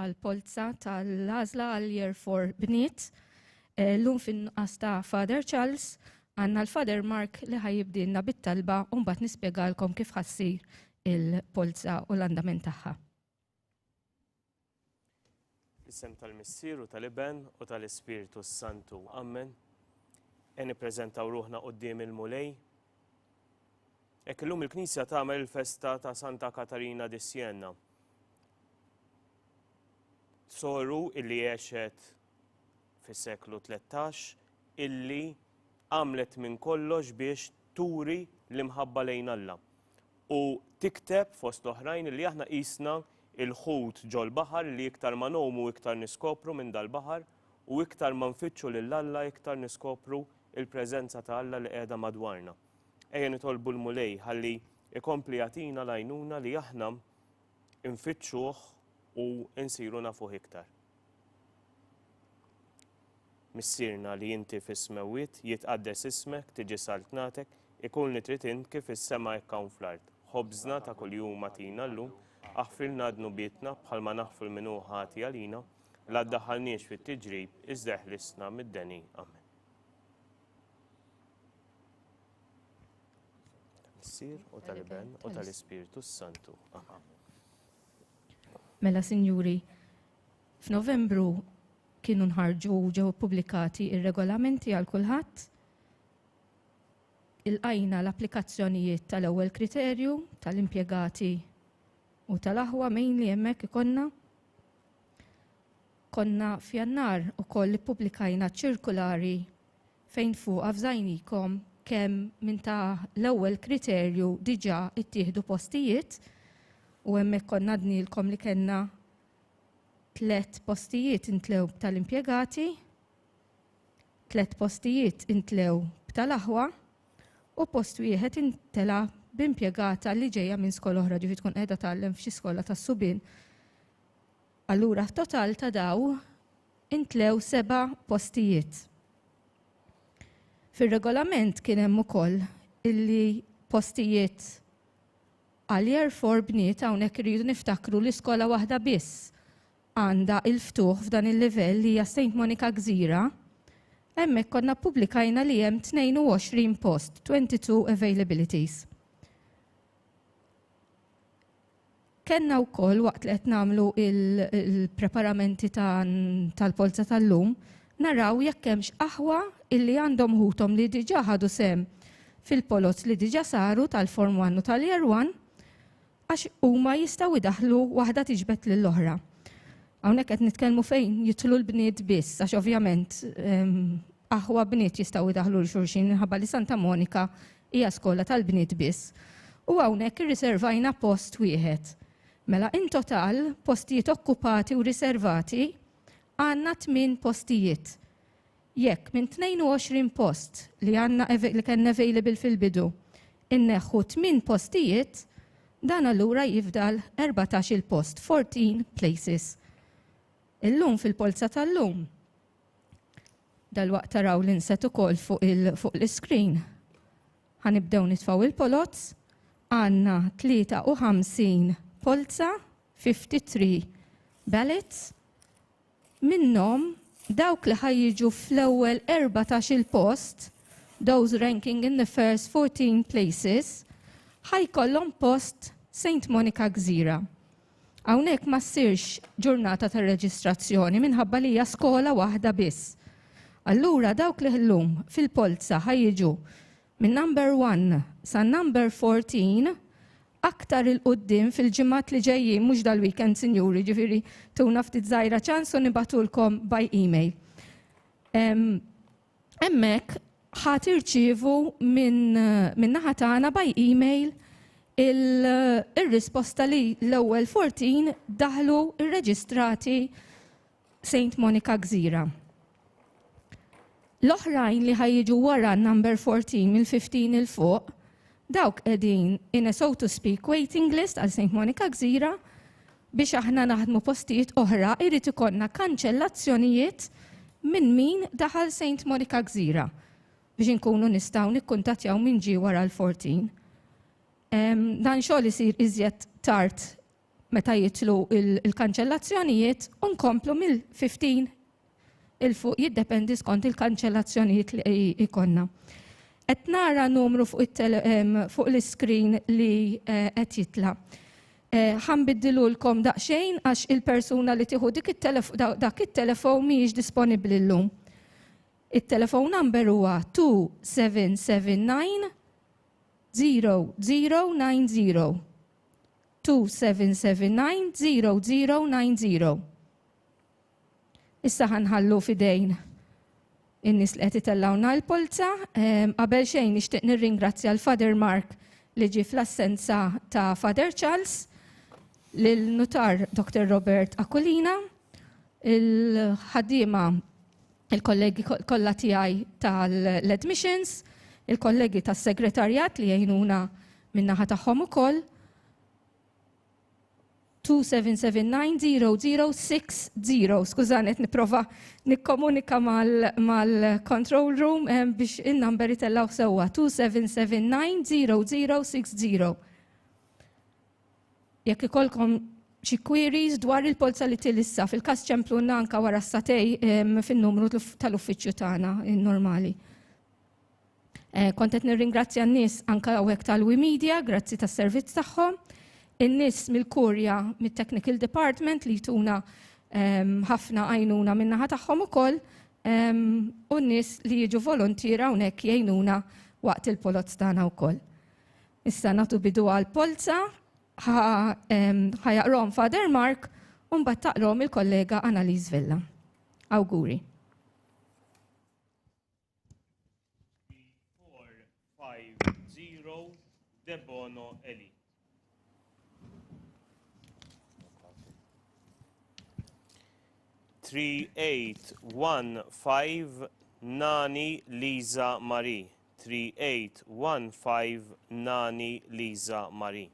għall-polza tal-għażla għal Year Four Bniet. Llum fin-nuqqas ta' Father Charles, għandna l-Father Mark li ħa jibdielna bit-talba u mbagħad nispjegalkom kif ħa ssir il-polza u l-andament tagħha. Fl-isem tal-Missier u tal-Iben u tal-Ispirtu s-Santu. Ammen. E nippreżentaw ruħna quddiem il-Mulej. Hekk illum il-Knisja tagħmel il-festa ta' Santa Katarina di Siena, soru illi għexet fis-seklu 13 illi għamlet minn kollox biex turi l-imħabba lejn Alla. U tikteb fost l-oħrajn illi aħna qisna il-ħut ġol-baħar li iktar ma nomu iktar niskopru minn dal-baħar u iktar ma nfittxu lil Alla iktar niskopru il-preżenza ta' Alla li qiegħda madwarna. Ejja nitolbu l-Mulej ħalli ikompli jagħtina l-għajnuna li aħna nfittxuh u nsiru nafuh iktar. Missierna li inti fis-smewwiet, jitqaddes ismek, tiġi saltnatek, ikun li trid int kif is-sema hekk hawn fl-art. Ħobżna ta' kuljum agħtina llum, aħfrilna dnubietna bħalma naħfru l-min hu ħati għalina, la ddaħħalniex fit-tiġrib, iżda eħlisna mid-deni. Amen. Tal-Missier u tal-Iben u tal-Ispirtu s-Santu. Amen. Mela, sinjuri, f'Novembru kienu nħarġu ġew ippubblikati ir-regolamenti għal kulħadd il-qajna l-applikazzjonijiet tal-ewwel kriterju tal-impjegati u tal-aħwa mejn li hemmhekk ikonna. Konna f'jannar ukoll ippubblikajna ċirkulari fejn fuqha fżajnikom kemm minn ta' l-ewwel kriterju diġà ttieħdu postijiet u hemmhekk konna għadnielkom li kellna tliet postijiet intlew b'ta' l-impjegati, tliet postijiet intlew b'ta' l-aħwa u post wieħed intela' b'impjegata li ġejja minn skola oħra, ġifieri tkun qiegħda tgħallem f'xi skola tas-subien. Allura total ta' daw intlew seba' postijiet. Fir-regolament kien hemm ukoll illi postijiet għal year four bniet hawnhekk irridu niftakru li skola waħda biss għandha l-ftuħ f'dan il-livell li hija Saint Monica Gżira, hemmhekk konna ppubblikajna li hemm 22 post, 22 availabilities. Kellna wkoll waqt li qed nagħmlu l-preparamenti tal-polza tal-lum, naraw jekk hemmx aħwa illi għandhom ħuthom li diġà ħadu sehem fil-poloz li diġà saru tal-Form One u tal-Year One għax huma jistgħu jdaħħlu waħda tiġbed lill-oħra. Hawnhekk qed nitkellmu fejn jidħlu l-bniet biss għax ovvjament aħwa bniet jistgħu jdaħlu lil xulxin minħabba li Santa Monika hija skola tal-bniet biss. U hawnhekk irriservajna post wieħed. Mela in total postijiet okkupati u riservati għandna tmien postijiet. Jekk minn 22 post li għandna li kien available fil-bidu inneħħu tmien postijiet, dan allura jifdal 14 il-post, 14 places. Illum fil-polza tal-lum Dalwaqt taraw l-inset ukoll fuq l-iskrin. Ħanibdew nitfgħu il-poloz. Għandna 53 polza, 53 ballots, minnhom dawk li ħa jiġu fl-ewwel 14-il post, those ranking in the first 14 places, ħa jkollhom post Saint Monica Gżira. Hawnhekk ma ssirx ġurnata ta' reġistrazzjoni minħabba li hija skola waħda biss. Allura dawk li llum fil-polza ħa jiġu minn number 1 sa number 14 aktar il quddiem fil-ġimgħat li ġejjin mhux dal-weekend sinjuri ġifieri tuna ftit żgħira ċans u nibgħatulkom by email. Hemmhekk ħa tirċievu minn min naħa tagħna by email ir-risposta li l-ewwel 14 daħlu rreġistrati Saint Monica Gżira. L-oħrajn li ħajġu wara number 14 mill-15 il fuq, dawk qegħdin in a so to speak waiting list għal St. Monica Gżira, Biex aħna naħdmu postijiet oħra irid ikollna kanċellazzjonijiet minn min daħal Saint Monica Gżira biex inkunu nistgħu nikkuntattjaw min ġie wara l-14. Dan xogħol isir iżjed tard meta jitlu il-kanċellazzjonijiet u nkomplu mill-15 'il fuq jiddependi skont il-kanċellazzjonijiet li jkollna. Qed nara numru fuq it-tele ehm, fuq l-iskrin li eh, qed jitla'. Eh, ħa nbiddilulkom daqsxejn għax il-persuna li tieħu dik it-telef- da- dak it-telefon mhijiex disponibbli llum. It-telefon number huwa 2779 0090. 2779 0090. Issa ħa nħallu f'idejn in-nies li qed itellgħulna l-polza. Qabel xejn nixtieq nirringrazzja l-Father Mark li ġie fl-assenza ta' Father Charles, lill-Nutar Dr. Robert Aquilina, il-ħaddiema il-kollegi kollha tiegħi tal-admissions, il-kollegi tas-segretarjat li jgħinuna min-naħa tagħhom ukoll. 2779060. Skużani qed nipprova nikkomunika mal-control room eh, biex in-number itellgħu sewwa 2779060. Jekk ikolkom xi queries dwar il-polza li tilissa fil-każ ċemplunna anka wara s-satej fin-numru tal-uffiċċju tagħna normali. Eh, kont qed nirringrazzja n-nies anke hawnhekk tal-Wi Media, grazzi tas-servizz tagħhom. In-nies mill-Kurja mit-Technical Department li jtuna ehm, ħafna għajnuna min-naħa tagħhom ukoll ehm, u n-nies li jiġu volontira hawnhekk jgħinuna waqt il-poloz tagħna wkoll. Issa nagħtu bidu għal polza ehm, ħajaqrom Father Mark u mbagħad taqrom il-kollega Annalise Vella. Awguri. 450 Debono Eli. Three eight one five Nani Lisa Marie. 3815 Nani Liza Marie.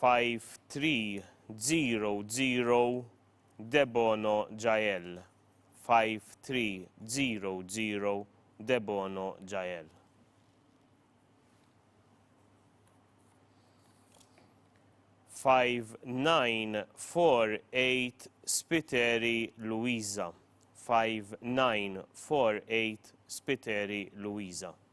5300 Debono Jael 5300 Debono Jael Five nine four eight Spiteri Luisa. Five nine four eight Spiteri Luisa.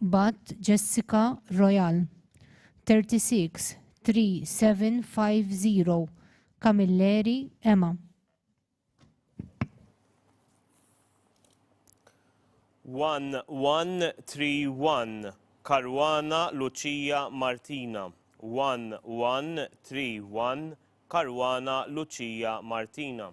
Bat Jessica Royal, 363750 Camilleri Emma. One one three one Karwana Lucia Martina. One one three one Karwana Lucia Martina.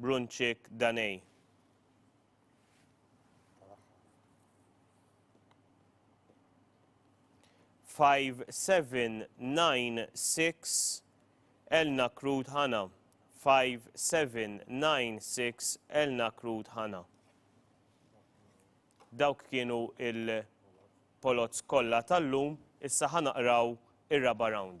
Brunċik Danei. Five seven nine six Elna Krut Hana. Five seven nine six Elna Krut Hana. Dawk kienu il-polots kollha tal-lum, issa ħanaqraw ir-raba round.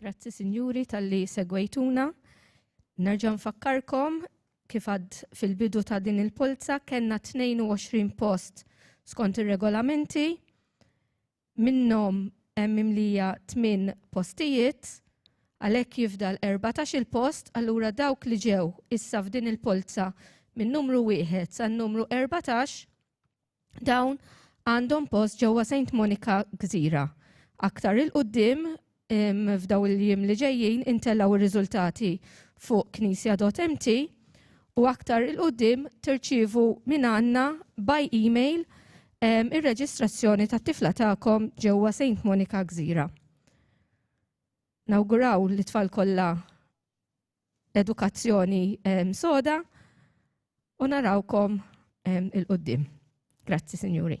Grazzi sinjuri tal-li segwejtuna. Nerġa' nfakkarkom kif għad fil-bidu ta' din il-polza kellna 22 post skont ir-regolamenti minnhom hemm imlija 8 postijiet għalhekk jifdal 14 il-post allura dawk li ġew issa f'din il-polza min-numru wieħed san-numru 14 Dawn għandhom post ġewwa Saint Monica Gżira. Aktar il-qoddim f'daw il-jiem li ġejjin intellaw ir-riżultati fuq Knisja MT u aktar il-qoddim tirċievu minn għandna by email ir-reġistrazzjoni tat-tifla tagħkom ġewwa Saint Monica Gżira. Nawguraw li tfal kollha edukazzjoni soda u narawkom il-qoddim. Grazzi, Sinjuri.